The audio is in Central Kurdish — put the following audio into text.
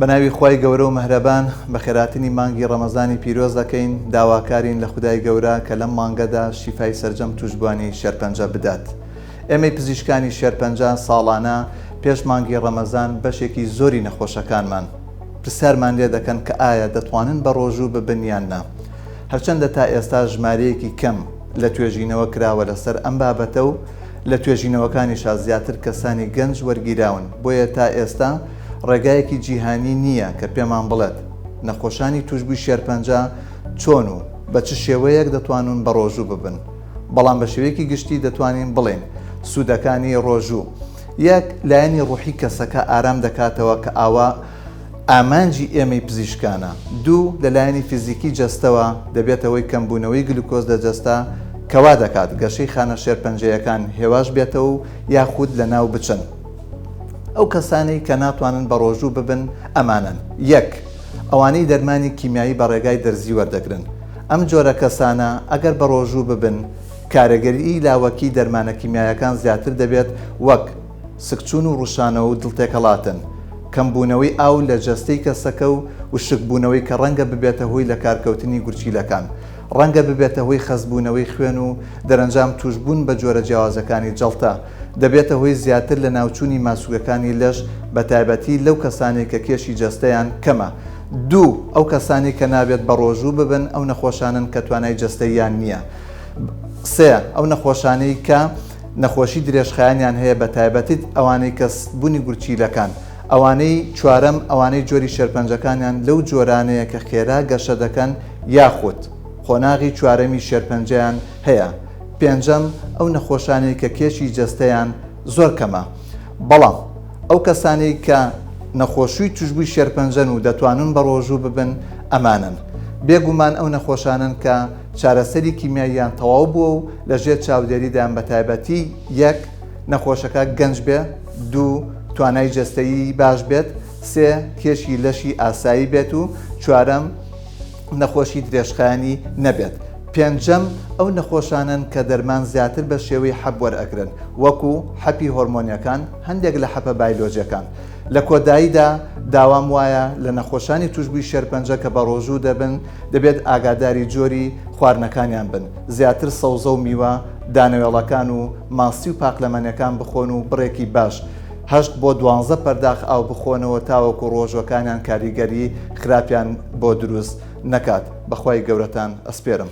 بە ناوی خوای گەورە و مەهرەبان بە خێراتنی مانگی ڕەمەزانی پیرۆز دەکەین، داواکارین لە خودای گەورە کە لەم مانگەدا شیفای سەرجەم توشبوانی شێرپەنجە بدات. ئێمەی پزیشکانی شێرپەنجە ساڵانە پێش مانگی ڕەمەزان بەشێکی زۆری نەخۆشەکانمان پرسیارمان لێ دەکەن کە ئایا دەتوانن بە ڕۆژوو ببن یان نا. هەرچەندە تا ئێستا ژمارەیەکی کەم لە توێژینەوە کراوە لەسەر ئەم بابەتە و لە توێژینەوەکانیشا زیاتر کەسانی گەنج وەرگیراون بۆیە تا ئێستا ڕێگایەکی جیهانی نییە کە پێمان بڵێت نەخۆشانی تووشبووی شێرپەنجە چۆن و بە چ شێوەیەک دەتوانون بەڕۆژوو ببن، بەڵام بە شێوەیەکی گشتی دەتوانین بڵێین سوودەکانی ڕۆژوو، یەک لایەنی ڕووحی کەسەکە ئارام دەکاتەوە کە ئاوا ئامانجی ئێمەی پزیشکانە، دوو لە لایەنی فیزیکی جەستەوە دەبێتە هۆی کەمبوونەوەی گلوکۆز لە جەستە کە وادەکات گەشەی خانە شێرپەنجەیەکان هێواش بێتەوە و یاخود لەناو بچن. ئەو کەسانەی کە ناتوانن بەڕۆژوو ببن ئەمانەن، یەک. ئەوانەی دەرمانی کیمیایی بە ڕێگای دەرزی وەردەگرن، ئەم جۆرە کەسانە ئەگەر بەڕۆژوو ببن کارەگەریی لاوەکیی دەرمانە کیمیایەکان زیاتر دەبێت وەک، سکچوون و ڕووشانەوە و دڵتێکەڵاتن، کەمبوونەوەی ئاو لە جەستەی کەسەکە و وشکبوونەوەی کە ڕەنگە ببێتە هۆی لەکارکەوتنی گورچیلەکان، ڕەنگە ببێتە هۆی خەستبوونەوەی خوێن و دەرەنجام تووشبوون بە جۆرە جیاوازەکانی جەڵتە. دەبێتە هۆی زیاتر لەناوچوونی ماسولکەکانی لەش بە تایبەتی لەو کەسانەی کە کێشی جەستەیان کەمە. دوو، ئەو کەسانەی کە نابێت بەڕۆژوو ببن ئەو نەخۆشانەن کە توانای جەستەییان نییە. سێ، ئەو نەخۆشانەی کە نەخۆشی درێژخایەنیان هەیە بە تایبەتیت ئەوانەی کە بونی گورچیلەکان. ئەوانەی چوارەم، ئەوانەی جۆری شێرپەنجەکانیان لەو جۆرانەیە کە خێرا گەشە دەکەن یاخود قۆناغی چوارەمی شێرپەنجەیان هەیە، پێنجەم، ئەو نەخۆشانەی کە کێشی جەستەیان زۆر کەمە، بەڵام ئەو کەسانەی کە نەخۆشوی توشبوی شێرپەنجەن و دەتوانن بەڕۆژو ببن ئەمانەن، بێ گومان ئەو نەخۆشانەن کە چارەسەری کیمیاییان تەواو بوە و لە ژێر چاودێریدان بە تایبەتی، یەک، نەخۆشەکە گەنج بێ، دوو، توانای جەستەیی باش بێت، سێ، کێشی لەشی ئاسایی بێت و چوارەم، نەخۆشی درێژخایەنی نەبێت. پێنجەم، ئەو نەخۆشانەن کە دەرمان زیاتر بە شێوەی حەپ وەرئەگرن وەکو، حەپی هۆرمۆنیەکان، هەندێک لە حەپە بایلۆجیەکان. لە کۆداییدا داوام وایە لە نەخۆشانی توشبوی شێرپەنجە کە بەڕۆژوو دەبن دەبێت ئاگاداری جۆری خواردنەکانیان بن زیاتر سەوزە و میوە دانەوێڵەکان و ماسی و پاقلەمەنێکان بخۆن و بڕێکی باش هەشت بۆ دوانزە پەرداخ ئاو بخۆنەوە تاوەکو ڕۆژوەکانیان کاریگەری خراپیان بۆ دروست نەکات بەخوای گەورەتان ئەسپێرم.